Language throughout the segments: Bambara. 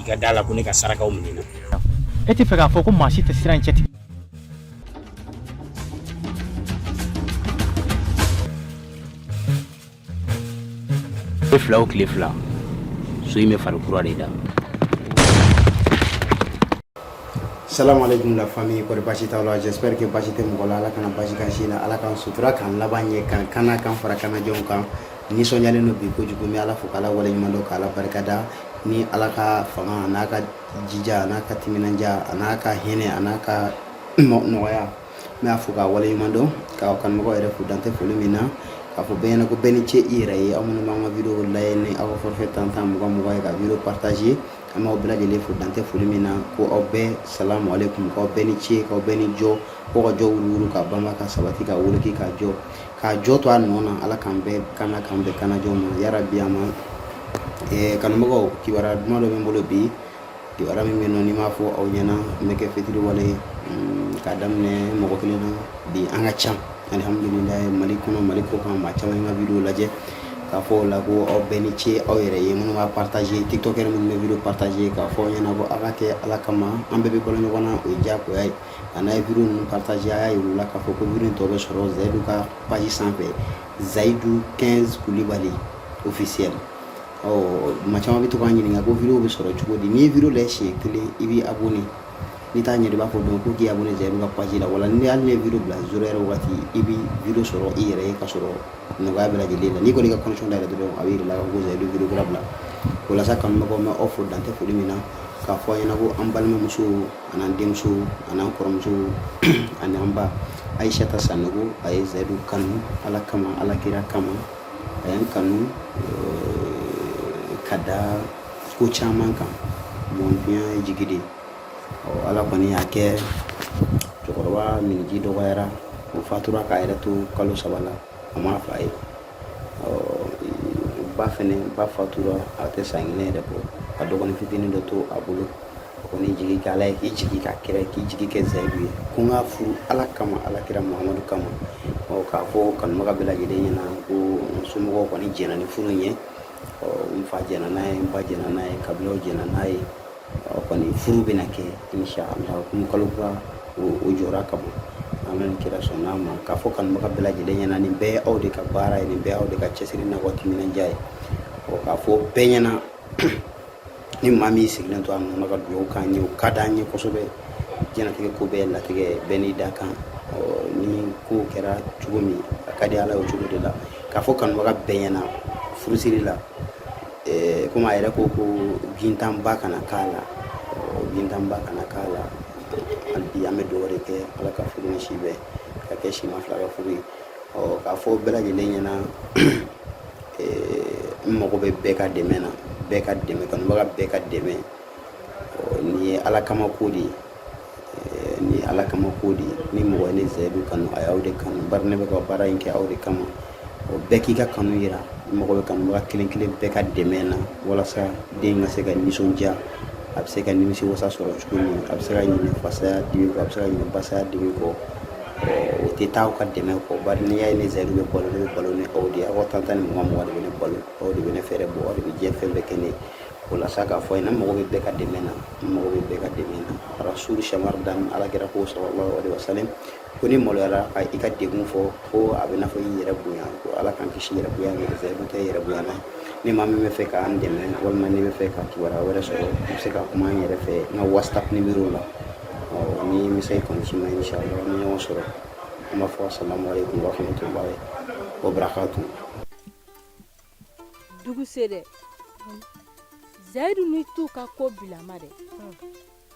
i ka da la ko ne ka sarakaw minɛna e tɛ fɛ k'a fɔ ko maa si tɛ siran cɛ tigɛ tile fila o tile fila so in bɛ fari kura de da salamu alaikum la famille kɔri basi t'aw la j'espère que basi tɛ mɔgɔ la ala kana basi k'an si la ala k'an sutura k'an laban ɲɛ k'an kana k'an fara kana jɔnw kan nisɔnyalen don bi kojugu n bɛ ala fo k'ala waleɲuman dɔn k'ala barikada ni ala ka fanga an'a ka jija an'a ka timinandiya an'a ka hinɛ an'a ka nɔgɔya n b'a fo k'a waleɲuman dɔn k'aw kanubaga yɛrɛ fo dan tɛ foli min na k'a fɔ bɛɛ ɲɛna ko bɛɛ ni ce i yɛrɛ ye aw minnu b'an ka video lajɛ ni aw ka forfait tan tan mugan mugan ye ka video partage an b'aw bɛɛ lajɛlen fo dan tɛ foli min na ko aw bɛɛ salamu aleykum k'aw bɛɛ ni ce k'aw bɛɛ ni jɔ ko ka jɔ wuruwuru ka banba ka sabati ka woloki ka jɔ k'a jɔ to a nɔ na ala k'an bɛɛ kana k'an bɛɛ kanajɔ ma yara bi a ma eh, kanubagaw kibaruya duman dɔ bɛ n bolo bi kibaruya min bɛ nɔ n'i m'a fɔ aw ɲɛna n bɛ kɛ fitiriwale ye mm, k'a daminɛ mɔgɔ kelen na bi an ka ca alihamudulilayi mali kɔnɔ mali kɔkan maa caman ye n ka video lajɛ k'a fɔ o la ko aw bɛɛ ni ce aw yɛrɛ ye minnu b'a partage tiktokɛri minnu bɛ video partage k'a fɔ aw ɲɛna ko aw k'a kɛ ala kama an bɛɛ bɛ balo ɲɔgɔn na o ye diyagoya ye A n'a ye video ninnu partage y'a ye wula k'a fɔ ko video tɔ bɛ sɔrɔ zayidu ka page sanfɛ zayidu kɛn kulibali officiel ɔ maa caman bɛ to k'an ɲininka ko videow bɛ sɔrɔ cogo di n'i ye video lajɛ siɲɛ kelen i bɛ abonner n'i t'a ɲɛ b'a fɔ dɔn ko k'i abonner zayidu ka page la wala ni y'ale video bila s yɛrɛ waati i bɛ video sɔrɔ i yɛrɛ ye k'a sɔrɔ nɔgɔya bɛ lajɛlen la n'i kɔni ka kɔnɔn da yɛlɛ dɔrɔn a bɛ yira i la ko zayidu ye video kura bila walasa kanubagaw n b'aw fo dan tɛ foli min na k'a fɔ a ɲɛna ko an balimamuso an'an denmuso an'an kɔrɔmuso an'an ba ayisata sanogo a ye zayidu kanu ala kama ala kira kama a y'an kanu eh, ka da ko caman kan bon duniya ye jigi de ala kɔni y'a kɛ cɛkɔrɔba minniji dɔgɔyara o fatura k'a yɛrɛ to kalo saba la a ma fa ye ba fɛnɛ ba fatura a tɛ san kelen yɛrɛ bɔ a dɔgɔnin fitinin dɔ to a bolo a kɔni jigi kɛ ala ye k'i jigi kɛ kira k'i jigi kɛ zayidu ye ko n k'a furu ala kama ala kira muhamadu kama ɔ k'a fɔ kanubaga bɛɛ lajɛlen ɲɛna ko n somɔgɔw kɔni jɛna ni furu ye ɔ n fa jɛna n'a ye n ba jɛna n'a ye kabilaw jɛna n'a ye o kɔni furu bɛna kɛ insha Allah o kun kalo kura o jɔra ka bɔ an bɛ kira sɔn n'a ma k'a fɔ kanubaga bɛɛ lajɛlen ɲɛna nin bɛɛ ye aw de ka baara ye nin bɛɛ aw de ka cɛsiri n'a ka timinandiya ye ɔ k'a fɔ bɛɛ ɲɛna ni maa min sigilen to a nana ka dugawu k'an ye o ka d'an ye kosɛbɛ diɲɛnatigɛ ko bɛɛ latigɛ bɛɛ n'i dakan ni ko kɛra cogo min a ka di ala ye o cogo de la k'a fɔ kanubaga bɛɛ ɲɛna furusiri la eh, komi a yɛrɛ ko ko gintanba kana k'a la gintanba kana k'a la hali bi an bɛ dɔw de kɛ ala ka furu ni si bɛn k'a kɛ sima fila ka furu ye k'a fɔ bɛɛ lajɛlen ɲɛna eh, n mago bɛ bɛɛ ka dɛmɛ na bɛɛ ka dɛmɛ kanubaga bɛɛ ka dɛmɛ nin ye ala kama ko de ye ni ala kama ko di ni mɔgɔ ni zayidu kanu a y'aw de kanu bari ne bɛ ka baara in kɛ aw de kama o bɛɛ k'i ka kanu yira n mago bɛ kanubaga kelen kelen bɛɛ ka dɛmɛ na walasa den ka se ka nisɔndiya a bɛ se ka nimisi wasa sɔrɔ cogo min a bɛ se ka ɲinɛ fa saya dimi kɔ a bɛ se ka ɲinɛ ba saya dimi kɔ o tɛ taa aw ka dɛmɛ kɔ bari n'i y'a ye ne zayidu bɛ balo ne bɛ balo ni aw de ye aw ka tan tan ni mugan mugan de bɛ ne balo aw de bɛ ne fɛɛrɛbɔ aw de bɛ diɲɛ fɛn bɛɛ kɛ ne ye o la sa k'a fɔ aw ɲɛna n mago bɛ bɛɛ ka dɛmɛ na n mago bɛ bɛɛ ka dɛmɛ na rasulu shamar dan ala kira ko sallallahu alaihi wasallam ko n'i maloyara ka i ka degun fɔ ko a bɛ n'a fɔ i yɛrɛ bonya ko ala k'an kisi yɛrɛ bonya ma zɛri bɛ kɛ yɛrɛ bonya na ni maa min b'a fɛ k'an dɛmɛ walima n'i b'a fɛ ka kibaruya wɛrɛ sɔrɔ i bɛ se ka kuma n yɛrɛ fɛ n ka whatsapp nimero la ɔ ni n bɛ se kɔni si ma inshallah ni ɲɔgɔn sɔrɔ an b'a fɔ salamu alaikum wa rahmatullahi wa barakatuh dugu se dɛ zayidu ni tu ka ko bilama dɛ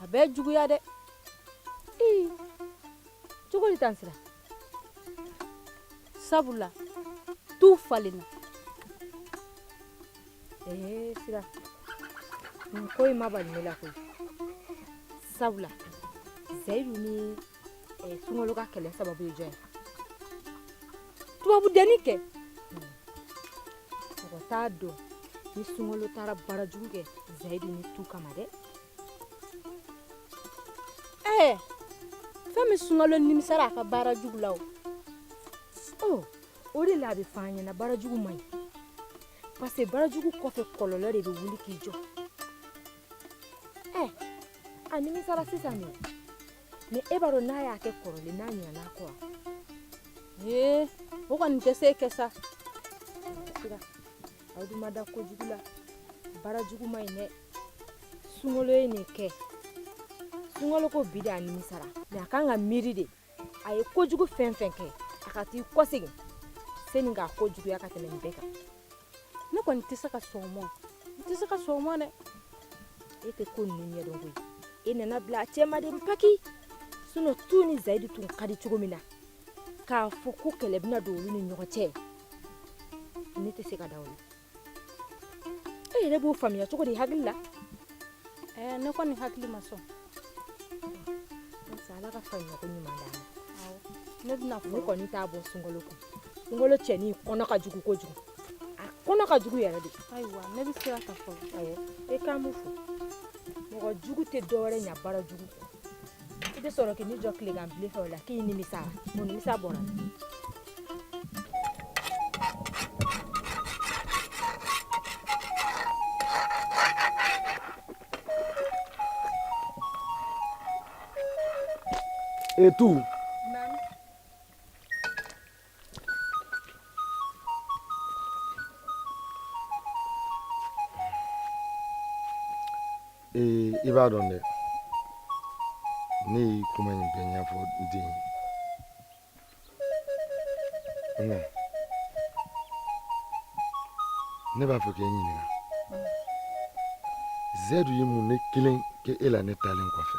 a bɛ juguya dɛ ii cogo di tan sira sabula tu falenna ee sira nin ko in ma bali ne la koyi sabula zayidu ni e, eh, sunkalo ka kɛlɛ sababu ye jɔn ye tubabu denni kɛ hmm. mɔgɔ t'a dɔn ni sunkalo taara baara jugu kɛ zayidi ni tu kama dɛ ɛɛ eh, fɛn min sunkalo nimisara a ka baara jugu la o oh, o de la a bɛ fɔ an ɲɛna baara jugu man ɲi parce que baara jugu kɔfɛ kɔlɔlɔ de bɛ wuli k'i jɔ ɛ eh, a nimisara sisan de mɛ e b'a dɔn n'a y'a kɛ kɔrɔlen n'a ɲinana a kɔ ee o kɔni tɛ se kɛ sa aw dun ma da kojugu la baara jugu man ɲi dɛ sunkalo ye nin kɛ sunkalo ko bi de a nimisara mɛ a kan ka miiri de a ye kojugu fɛn fɛn kɛ a ka t'i kɔsegin sani k'a ko juguya ka tɛmɛ nin bɛɛ kan ne kɔni tɛ se ka sɔn mɔ n tɛ se ka sɔn mɔ dɛ e tɛ ko ninnu ɲɛdɔn koyi e nana bila a cɛma dɛ paki sinɔn tu ni zayidi tun ka di cogo min na k'a fɔ ko kɛlɛ bɛna don olu ni ɲɔgɔn cɛ ne tɛ se ka da o la e yɛrɛ b'o faamuya cogo di hakili la ɛɛ ne kɔni hakili ma sɔn ala ka faamuyako ɲuman d'an ma ne bɛna fɔ ne kɔni t'a bɔ sunkalo kun Ngolo cɛnin kɔnɔ ka jugu kojugu a kɔnɔ ka jugu yɛrɛ de ayiwa ne bɛ siran k'a fɔ awɔ e k'an b'u fo mɔgɔ jugu tɛ dɔwɛrɛ ɲa baara jugu kɔ i bɛ sɔrɔ k'i ni jɔ tilegan bilen fɛ o la k'i nimisa mun nimisa bɔra e tu ee i b'a dɔn dɛ ne ye kuma in bɛɛ ɲɛfɔ n den ye nka ne b'a fɛ k'e ɲininka zɛdu ye mun ne kelen kɛ e la ne taalen kɔfɛ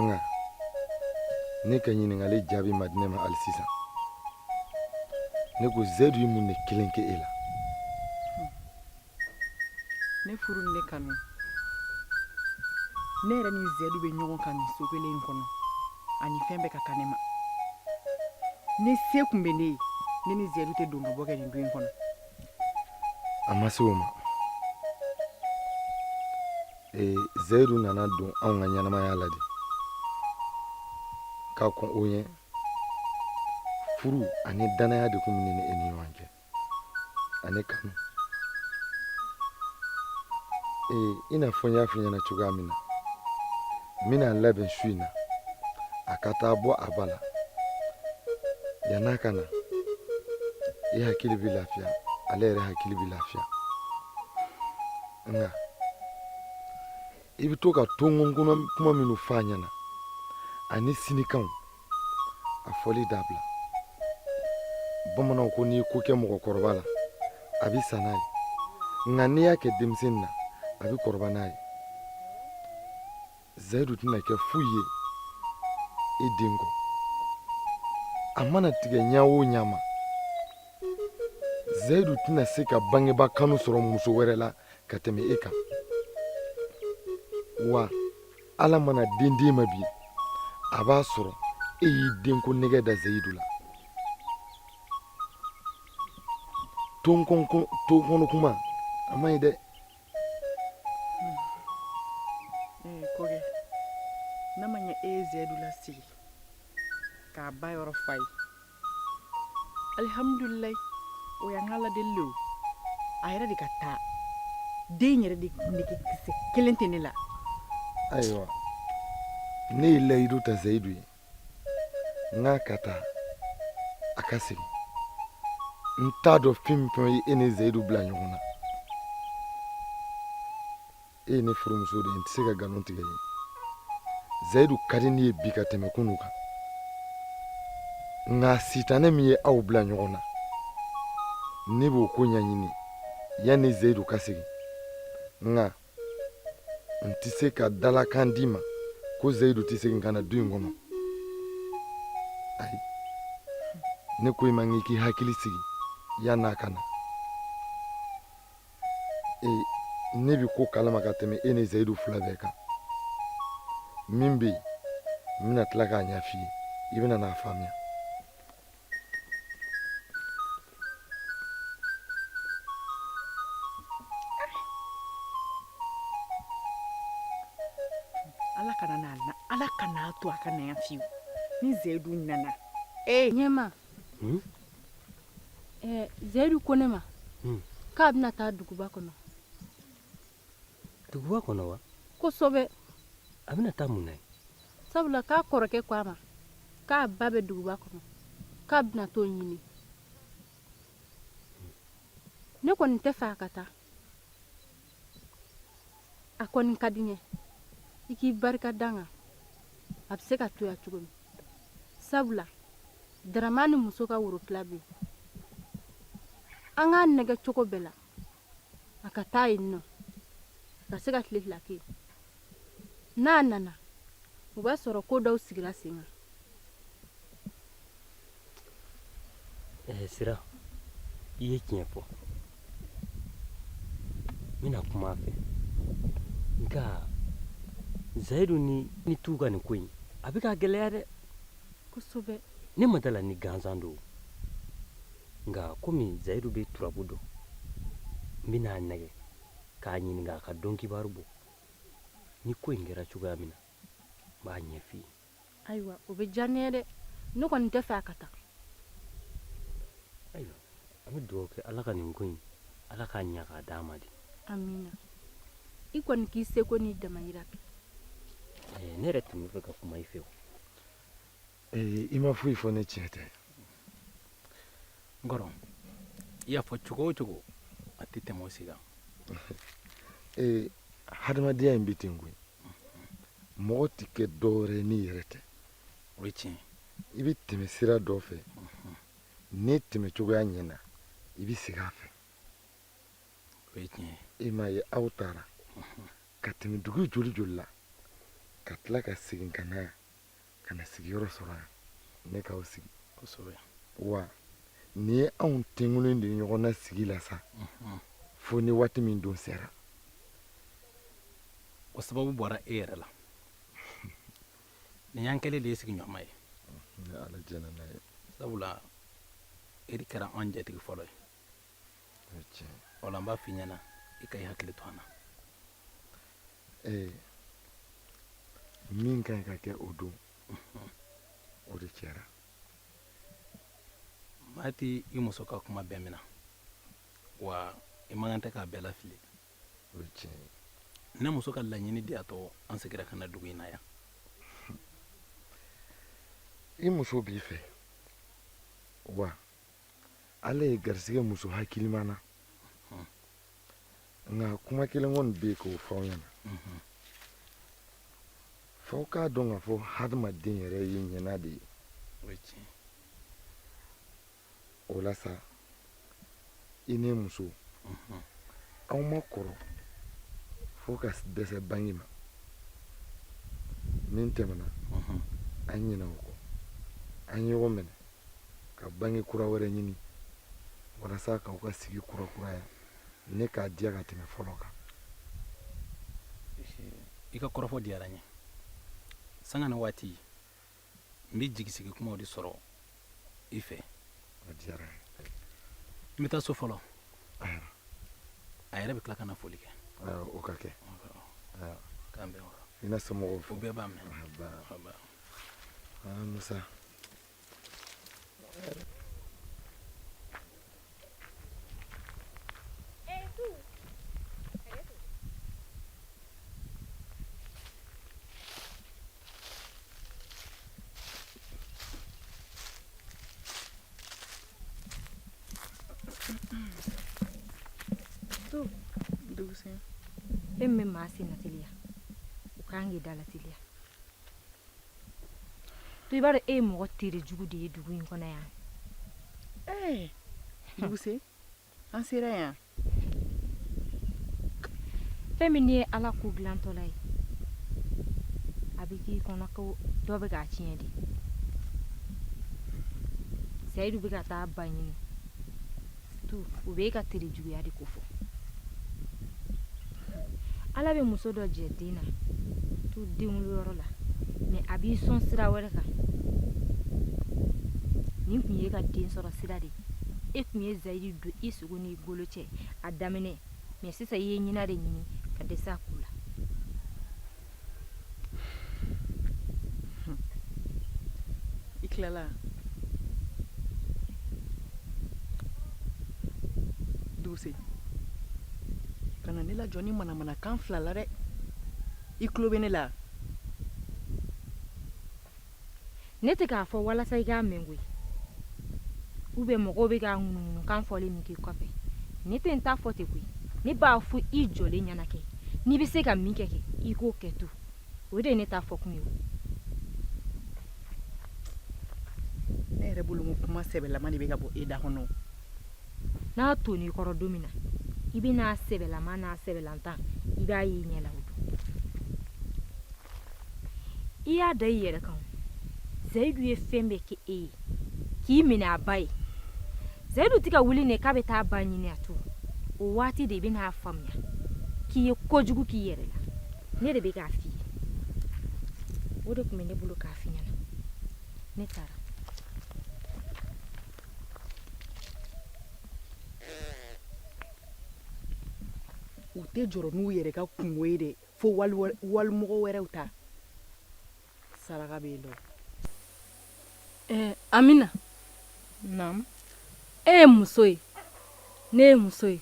nka ne ka ɲininkali jaabi ma di ne ma hali sisan ne ko zedu ye mun de kelen kɛ e la ne furu ni ne kanu ne yɛrɛ ni zedu bɛ ɲɔgɔn kan nin so kelen in kɔnɔ ani fɛn bɛɛ ka kan ne ma ni se tun bɛ ne ye ne ni zedu tɛ don ka bɔ kɛ nin du in kɔnɔ a ma se o ma ee zayidu nana don anw ka ɲɛnamaya la de ka kɔn o ɲɛ furu ani danaya de tun bɛ ne ni e ni ɲɔgɔn cɛ ani kanu ee i n'a fɔ n y'a f'i ɲɛna cogoya min na n bɛn'a labɛn su in na a ka taa bɔ a ba la yann'a ka na i hakili bɛ lafiya ale yɛrɛ hakili bɛ lafiya nka i bɛ to ka tonkonna kuma minnu fɔ a ɲɛna ani sinikanw a fɔli dabila bamananw ko n'i ko kɛ mɔgɔkɔrɔba la a bɛ sa n'a ye nka n'i y'a kɛ denmisɛnnin na a bɛ kɔrɔba n'a ye zayidu tɛna kɛ foyi ye e den kɔ a mana tigɛ ɲa o ɲa ma zayidu tɛna se ka bangeba kanu sɔrɔ muso wɛrɛ la ka tɛmɛ e kan wa ala mana den d'e ma bi a b'a sɔrɔ e y'i denko nege da zayidu la tonkonna kuma a man ɲi dɛ kɔkɛ n'a ma ɲɛ e ye zɛdu lasigi k'a ba yɔrɔ fa ye alihamudulilayi o y'an ka ladeli le o a yɛrɛ de ka taa den yɛrɛ de nege kisɛ kelen tɛ ne la ayiwa ne ye layidu ta zayidu ye n k'a ka taa a ka segin n t'a dɔn fɛn min fɛn ye e ni zayidu bila ɲɔgɔn na e ye ne furumuso de ye n tɛ se ka nkalon tigɛ i ye zayidu ka di ne ye bi ka tɛmɛ kunu kan nka sitanɛ min ye aw bila ɲɔgɔn na ne b'o ko ɲɛɲini yanni zayidu ka segin nka n tɛ se ka dalakan d'i ma ko zayidu tɛ segin ka na du in kɔnɔ ayi ne ko i ma k'i k'i hakili sigi yann'a ka na ee ne bɛ ko kalama ka tɛmɛ e ni zayidu fila bɛɛ kan min bɛ yen n bɛna tila k'a ɲɛf'i ye i bɛna n'a faamuya Ala kana n'a la Ala kan'a to a ka na yan fiyewu ni Zeyidu nana ee ɲɛma hun ɛɛ Zeyidu ko ne ma hun k'a bɛna taa duguba kɔnɔ duguba kɔnɔ wa kosɛbɛ a bɛna taa mun na yen sabula k'a kɔrɔkɛ ko a ma k'a ba bɛ duguba kɔnɔ k'a bɛna t'o ɲini ne kɔni tɛ fɛ a ka taa a kɔni ka di n ye i k'i barika dan kɛ a bɛ se ka to yan cogo min sabula daramani muso ka worotila bɛ yen an k'a nɛgɛ cogo bɛɛ la a ka taa yen nɔ ka se ka tile fila kɛ n'a nana o b'a sɔrɔ ko dɔw sigira sen kan eh, sira i ye tiɲɛ fɔ n bɛna kuma a fɛ nka zayidu ni ni t'u ka nin ko in a bɛ ka gɛlɛya dɛ kosɛbɛ ne ma d'a la ni gansan don nka komi zayidu bɛ turabu dɔn n bɛna a nɛgɛ k'a ɲininka a ka donkibaru bɔ ni ko in kɛra cogoya min na n b'a ɲɛf'i ye ayiwa o bɛ diya ne ye dɛ ne kɔni tɛ fɛ a ka taa ayiwa an bɛ dugawu kɛ ala ka nin ko in ala k'a ɲɛ k'a d'a ma dɛ amina i kɔni k'i seko n'i damayira kɛ ne yɛrɛ tun bɛ fɛ ka kuma i fɛ o ee i ma foyi fɔ ni tiɲɛ tɛ n kɔrɔ i y'a fɔ cogo o cogo a tɛ tɛmɛ o si kan ee hadamadenya in bɛ ten koyi mɔgɔ tɛ kɛ dɔwɛrɛ ye n'i yɛrɛ tɛ o ye tiɲɛ i bɛ tɛmɛ sira dɔ fɛ n'i tɛmɛ cogoya ɲɛna i bɛ segin a fɛ o ye tiɲɛ i m'a ye aw taara ka tɛmɛ dugu joli joli la ka tila ka segin ka na yan ka na sigiyɔrɔ sɔrɔ yan ne k'aw sigi kosɛbɛ wa nin ye anw tenkulen de ɲɔgɔn na sigi la sa mhm. fo ni waati min don sera o sababu bɔra e yɛrɛ la nin y'an kɛlen de ye sigiɲɔgɔnma ye mhm, sabula e de kɛra an jatigi fɔlɔ ye o la n b'a f'i ɲɛna i ka i hakili to an na min ka ɲi ka kɛ o don o de kɛra maa tɛ i muso ka kuma bɛɛ minɛ wa i man kan tɛ k'a bɛɛ lafili o ye tiɲɛ ye ne muso ka laɲini de y'a to an segira ka na dugu in na yan i muso b'i fɛ wa ala y'i garisɛgɛ muso hakilima na nka kuma kelen kɔni n bɛ k'o fɔ aw ɲɛna fo k'a dɔn k'a fɔ hadamaden yɛrɛ ye ɲina de ye o la sa i n'i muso aw ma kɔrɔ fo ka dɛsɛ bange ma min tɛmɛna an ɲinɛ o kɔ an ɲɔgɔn minɛ ka bange kura wɛrɛ ɲini walasa k'aw ka sigi kurakuraya ni k'a diya ka tɛmɛ fɔlɔ kan i ka kɔrɔfɔ diyara n ye sanga ni waati n bɛ jigisigi kumaw de sɔrɔ i fɛ a diyara n ye n bɛ taa so fɔlɔ ayiwa a yɛrɛ bɛ tila ka na foli kɛ ayiwa o ka kɛ ayiwa k'an bɛn o kan i na somɔgɔw fo u bɛɛ b'a mɛn Ayiwa, ba- Ayiwa. Ah, musa fɛn min bɛ maa sen na teliya o kan k'i da la teliya to i b'a dɔn e ye mɔgɔ tere jugu de ye dugu in kɔnɔ yan ee duguse an sera yan fɛn min ye ala ko dilantɔla ye a bɛ k'i kɔnɔ ko dɔ bɛ k'a tiɲɛ de seyidu bɛ ka taa ba ɲini u b'i ka tere juguya de ko fɔ ala bɛ muso dɔ jɛ den na tu denwolo yɔrɔ la mɛ a b'i sɔn sira wɛrɛ kan nin tun ye ka den sɔrɔ sira de e tun ye zayiri don i sogo n'i golo cɛ a daminɛ mɛ sisan i ye ɲina de ɲini ka dɛsɛ a ko la I tilala duguse ka na ne lajɔ nin manamanakan fila la dɛ i tulo bɛ ne la ne tɛ k'a fɔ walasa i k'a mɛn koyi u bɛ mɔgɔw bɛ ka ŋunuŋunukan fɔli min k'i kɔfɛ ne tɛ n ta fɔ ten koyi ne b'a fɔ i jɔlen ɲɛna kɛ n'i bɛ se ka min kɛ kɛ i k'o kɛ to o de ye ne ta fɔ kun ye o ne yɛrɛ bolo ko kuma sɛbɛlama de bɛ ka bɔ e da kɔnɔ n'a toni kɔrɔ don min na i bɛn'a sɛbɛlama n'a sɛbɛlantan i b'a ye i ɲɛ la o don i y'a da i yɛrɛ kan zayidu ye fɛn bɛɛ kɛ e ye k'i minɛ a ba ye zayidu tɛ ka wuli ne k'a bɛ taa ba ɲini a to o waati de i bɛna a faamuya k'i ye kojugu k'i yɛrɛ la ne de bɛ k'a f'i ye o de tun bɛ ne bolo k'a f'i ɲɛna ne taara u tɛ jɔrɔ n'u yɛrɛ ka kunko ye dɛ fo walimɔgɔ wɛrɛw ta saraka bɛ yen nɔ. Eh, amina naam e ye muso ye ne ye muso ye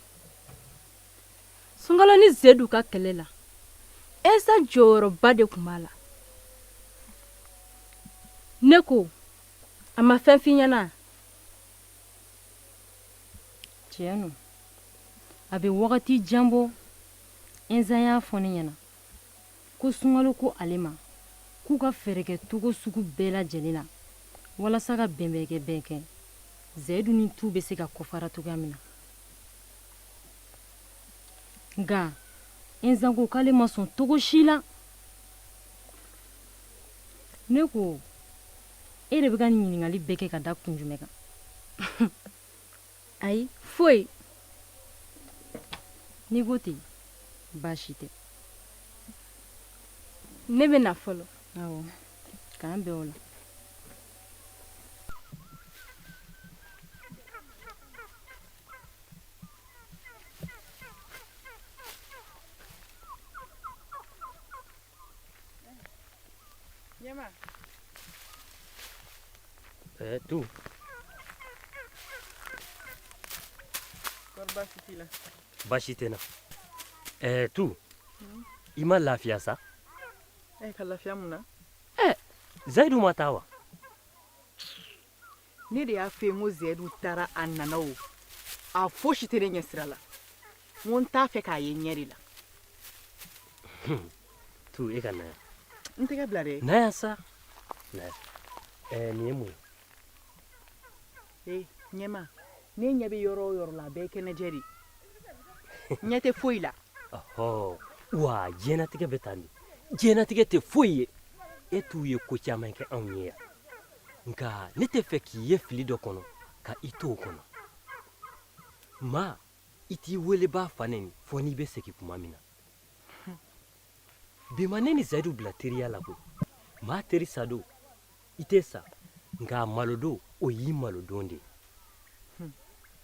sunkalo ni zayidu ka kɛlɛ la ɛnzan jɔyɔrɔba de tun b'a la ne ko a ma fɛn f'i ɲɛna tiɲɛ don a bɛ wagati jan bɔ Ɛnzan y'a fɔ ne ɲɛna ko sunkalo ko ale ma k'u ka fɛɛrɛ kɛ cogo sugu bɛɛ lajɛlen na walasa ka fɛn bɛɛ kɛ bɛɛ kɛ Zayidu ni Tu bɛ se ka kɔfara cogoya min na. Nka Ɛnzan ko k'ale ma sɔn cogo si la. Ne ko e de bɛ ka nin ɲininkali bɛɛ kɛ ka da kun jumɛn kan? ayi foyi n'i ko ten baasi tɛ ne bɛ na fɔlɔ awɔ k'an bɛn o la Nie ma. E, Tu. Kori baasi t'i la. Baasi tɛ n na. E, Tu. I ma lafiya sa? E ka lafiya mun na? Zayidu ma taa wa? ne de y'a f'i ye ko zɛdu taara a nana o a fosi tɛ ne ɲɛsira la n ko n t'a fɛ k'a ye n ɲɛ de la tu e ka na yan n tɛgɛ bila dɛ na yan sa na yan ɛɛ nin ye mun ye ee ɲɛma ne ɲɛ bɛ yɔrɔ o yɔrɔ la a bɛɛ ye kɛnɛjɛ de ye n ɲɛ tɛ foyi la ɔhɔ wa diɲɛnatigɛ bɛ tan de diɲɛnatigɛ tɛ foyi ye e t'u ye ko caman kɛ anw ye yan nka ne t'a fɛ k'i ye fili dɔ kɔnɔ ka i to o kɔnɔ maa i t'i welebaa fa nɛni fo n'i bɛ segin kuma min na bi ma ne ni zayidu bila teriya la koyi maa teri sadon i tɛ sa nka a malodon o y'i malodon de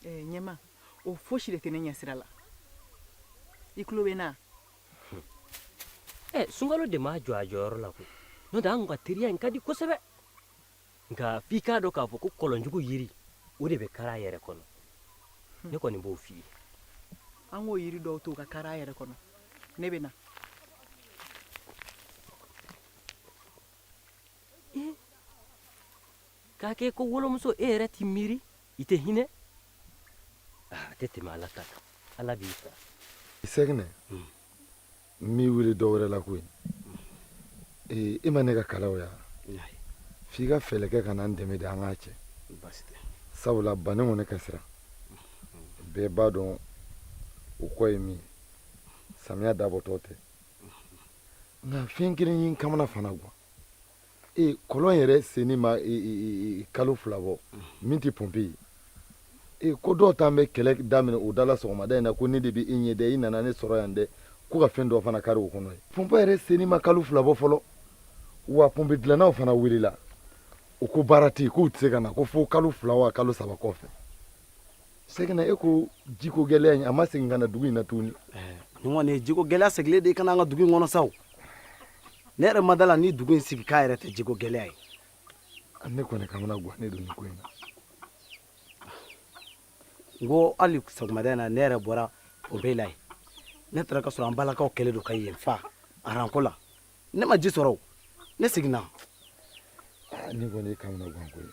ye ɲɛma o fosi de tɛ ne ɲɛsira la i tulo bɛ n na ɛ sunkalo de m'a jɔ a jɔyɔrɔ la koyi n'o tɛ an ka teriya in ka di kosɛbɛ nka f'i k'a dɔn k'a fɔ ko kɔlɔnjugu yiri o de bɛ kari a yɛrɛ kɔnɔ ne kɔni b'o f'i ye an k'o yiri dɔw to ka kari a yɛrɛ kɔnɔ ne bɛ na k'a kɛ ko wolomuso e yɛrɛ t'i miiri i tɛ hinɛ a ah, tɛ tɛmɛ ala ta kan ala b'i fɛ i sɛgɛnnen hmm. n m'i wele dɔ wɛrɛ la koyi ee i ma ne ka kalaw ye wa f'i ka fɛɛlɛ kɛ ka na n dɛmɛ de an k'a cɛ sabula bani kɔni ka siran hmm. bɛɛ b'a dɔn o kɔ ye min ye samiya dabɔtɔ tɛ nka fɛn kelen ye n kamana fana gan ee kɔlɔn yɛrɛ senni ma e, e, e, kalo fila bɔ min tɛ pɔnpe ye ee ko dɔw tun bɛ kɛlɛ daminɛ o dala sɔgɔmada in na ko ne de bɛ e ɲɛ dɛ i nana ne sɔrɔ yan dɛ ko ka fɛn dɔ fana kari o kɔnɔ yen pɔnpe yɛrɛ senni ma kalo fila bɔ fɔlɔ wa pɔnpe dilannaw fana welela u ko baara tɛ yen k'u tɛ se ka na ko fo kalo fila wa kalo saba kɔfɛ sɛgɛnna e ko jiko gɛlɛya in a ma segin ka na dugu in na tuguni nin kɔni ye jiko gɛlɛya segilen de ye ka na an ka dugu in kɔnɔ sa o ne yɛrɛ ma da a la ni dugu in sigikan yɛrɛ tɛ jiko gɛlɛya ye ne kɔni kamana guwannen don nin ko in na n ko hali sɔgɔmada in na ne yɛrɛ bɔra pɔnpe la yen ne taara ka sɔrɔ an balakaw kɛlen don ka yen fa aranko la ne ma ji sɔrɔ o ne seginna nin kɔni ye kamana guwanko ye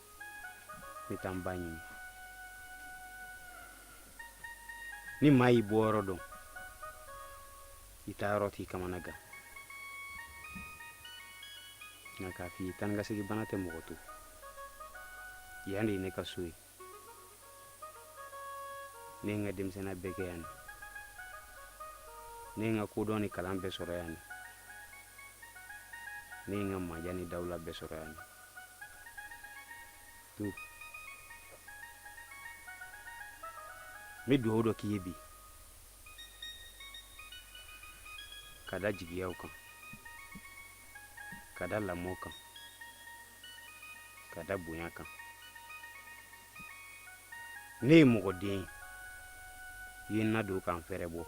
ne taa n ba ɲini ni maa y'i bɔyɔrɔ dɔn i taayɔrɔ t'i kamana gan nka n k'a f'i ye taa ka segin bana tɛ mɔgɔ to yan de ye ne ka so ye ne ye n ka denmisɛnniya bɛɛ kɛ yan de ne ye n ka kodɔn ni kalan bɛɛ sɔrɔ yan de ne ye n ka maaya ni dawula bɛɛ sɔrɔ yan de n bɛ dugawu dɔ k'i ye bi ka da jigiyaw kan ka da lamɔ kan ka da bonya kan ne ye mɔgɔ den ye i ye n nadon ka n fɛrɛbɔ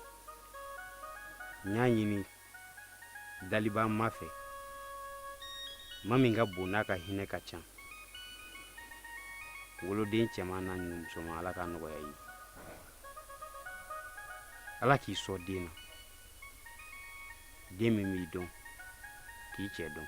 n y'a ɲini dalibaa ma fɛ ma min ka bon n'a ka hinɛ ka ca woloden cɛman n'a ɲuman musoman ala k'a nɔgɔya i ye ala k'i sɔn den na den min b'i dɔn k'i cɛ dɔn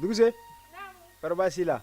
Duguse baasi la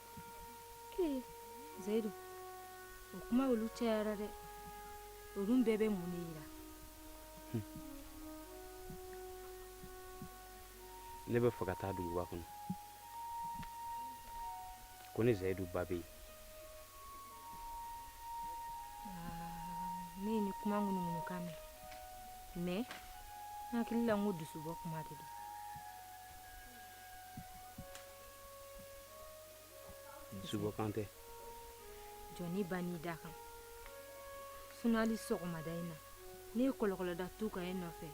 zayidu o kuma olu cayara dɛ olu bɛɛ bɛ mun de yira ne bɛ fɛ ka taa duguba kɔnɔ ko ne zayidu ba bɛ yen ne ye nin kuma ŋunuŋunukan mɛn mɛ n hakili la n ko dusubɔ kuma de don Suba kan tɛ jɔnni ba n'i da kan sunali sɔgɔmada in na ne ye kɔlɔkɔlɔda tu ka ye nɔfɛ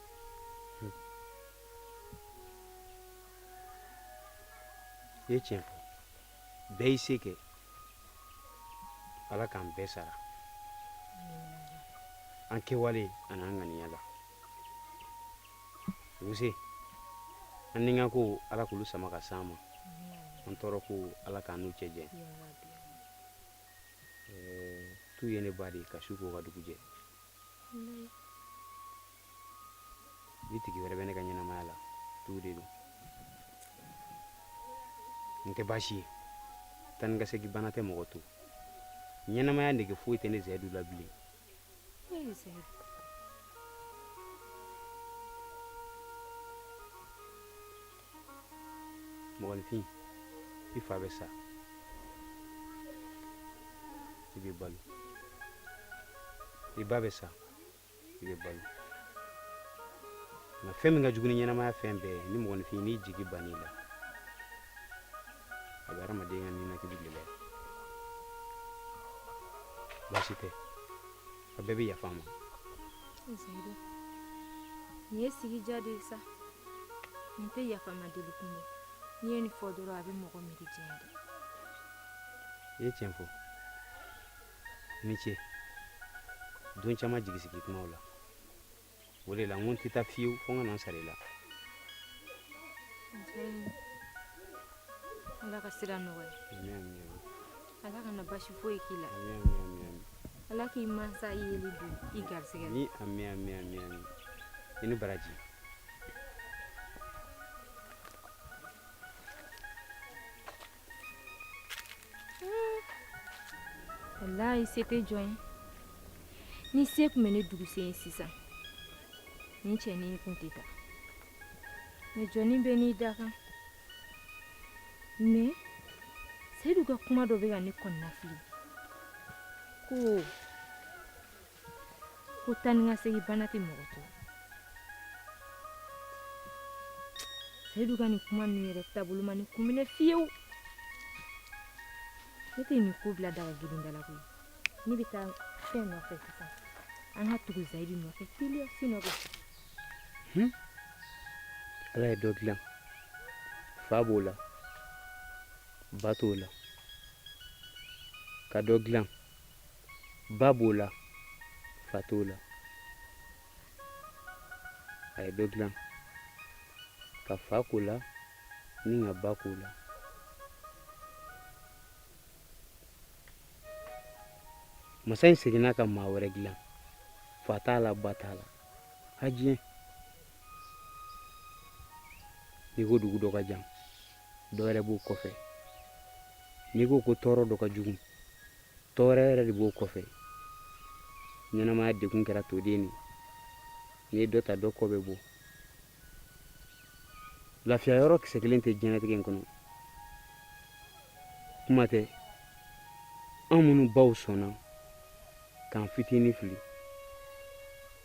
i ye tiɲɛ fɔ bɛɛ y'i se kɛ ala k'an bɛɛ sara an kɛwale an'an ŋaniya la an ni ka ko ala kulu sama ka san ma an tɔɔrɔ ko ala k'an n'u cɛ jɛ tu ye ne ba de ye ka su ko ka dugu jɛ ni tigi wɛrɛ bɛ ne ka ɲɛnamaya la tu de don nin tɛ baasi ye taa ni ka segin bana tɛ mɔgɔ to ɲɛnamaya nege foyi tɛ ne zayidu la bilen mɔgɔninfin i fa bɛ sa i bɛ balo i ba bɛ sa i bɛ balo nka fɛn min ka jugu ni ɲɛnamaya fɛn bɛɛ ye ni mɔgɔninfin n'i jigi bann'i la a bɛ hadamaden ka ninakili gɛlɛya baasi tɛ a bɛɛ bɛ yafa n ma zayidu nin ye sigi diya de ye sa nin tɛ yafama deli kun ye n'i ye nin fɔ dɔrɔn a bɛ mɔgɔ miiri diɲɛ dɛ i ye tiɲɛ fɔ i ni ce don caman jigisigi kumaw la o de la n ko n tɛ taa fiyewu fo n ka na n sara i la ala ka sira nɔgɔya ala kana basi foyi k'i la ala k'i mansa yeli don i garisɛgɛ ni ami ami ami ami i ni baraji walayi se tɛ jɔn ye ni se tun bɛ ne dugusen ye sisan nin cɛnin kun tɛ taa mɛ jɔnin bɛɛ n'i dakan mɛ seyidu ka kuma dɔ bɛ ka ne kɔnɔnafili ko ko taa ni ka segin bana tɛ mɔgɔ to seyidu ka nin kuma ninnu yɛrɛ taabolo ma ne kun minɛ fiyewu ne tɛ nin ko bila dakan kelen da la koyi ne bɛ taa fɛn nɔfɛ sisan an ka tugu seyidu nɔfɛ teliya si nɔfɛ hmm? ala ye dɔ dilan fa b'o la ba t'o la ka dɔ dilan ba b'o la fa t'o la a ye dɔ dilan ka fa k'o la ni ka ba k'o la masa in seginna ka maa wɛrɛ dilan fa t'a la ba t'a la ha diɲɛ n'i ko dugu dɔ ka jan dɔ yɛrɛ b'o kɔfɛ n'i ko ko tɔɔrɔ dɔ ka jugu tɔɔrɔ wɛrɛ yɛrɛ de b'o kɔfɛ ɲɛnamaya degun kɛra toden ye n'i ye dɔ ta dɔ kɔ bɛ bɔ lafiya yɔrɔ kisɛ kelen tɛ diɲɛnatigɛ in kɔnɔ kuma tɛ an minnu baw sɔnna k'an fitinin fili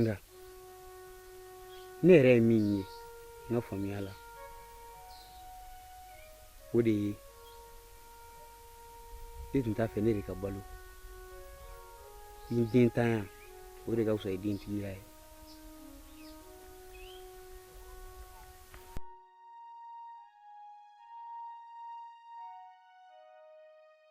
nka ne yɛrɛ ye min ye n ka faamuya la o de ye n'i tun t'a fɛ i den ka balo i denntanya o de ka fisa i dentigiya ye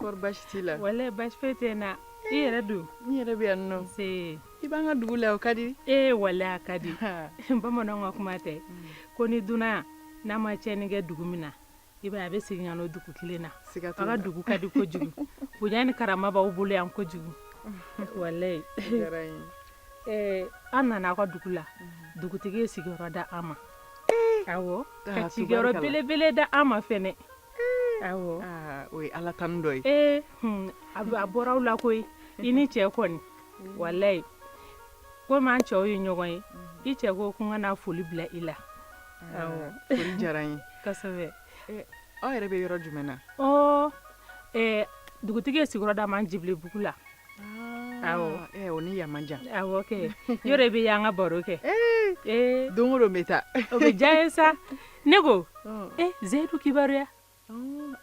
kɔrɔ basi t'i la wala basi foyi tɛ n na i yɛrɛ don n yɛrɛ bɛ yan nɔ se i b'an ka dugu la o ka di ee wala a ka di bamananw ka kuma tɛ mm. ko ni dunan n'a ma tiɲɛni kɛ dugu min na i b'a a bɛ segin ka na dugu kelen na siga aw ka dugu ka di kojugu bonya ni karama b'aw bolo yan kojugu walayi an nana aw ka dugu la mm-hmm. dugutigi ye sigiyɔrɔ da an ma Ka sigiyɔrɔ belebele da an ma o ye ala tando ye ee a a bɔra aw la ko i ni cɛ kɔni walayi ko an cɛw ye ɲɔgɔn ye i cɛ ko ko n ka foli bila i la diyara ye aw yɛrɛ bɛ yɔrɔ jumɛn na dugutigi ye sigiyɔrɔ da an ma ncibugu la Ni man jan yɔrɔ bɛ yan ka baro kɛ don bɛ taa o bɛ diya ye sa ne ko seyidu kibaruya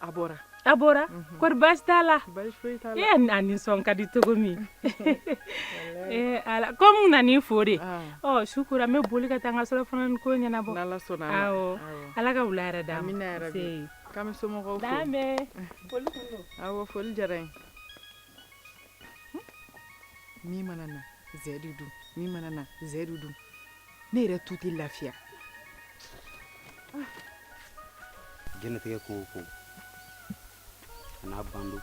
a bɔra a bɔra kɔri basi t'a la e nisɔn ka di cogo min ala kɔni na nin fɔ de su ko n bɛ boli ka taa n ka surɔfana ko ɲɛnabɔ ala ka wula hɛrɛ da foli diyara min mana na zɛ de dun min mana na zɛ de dun ne yɛrɛ tun tɛ lafiya jɛnatigɛ ko o ko a n'a ban don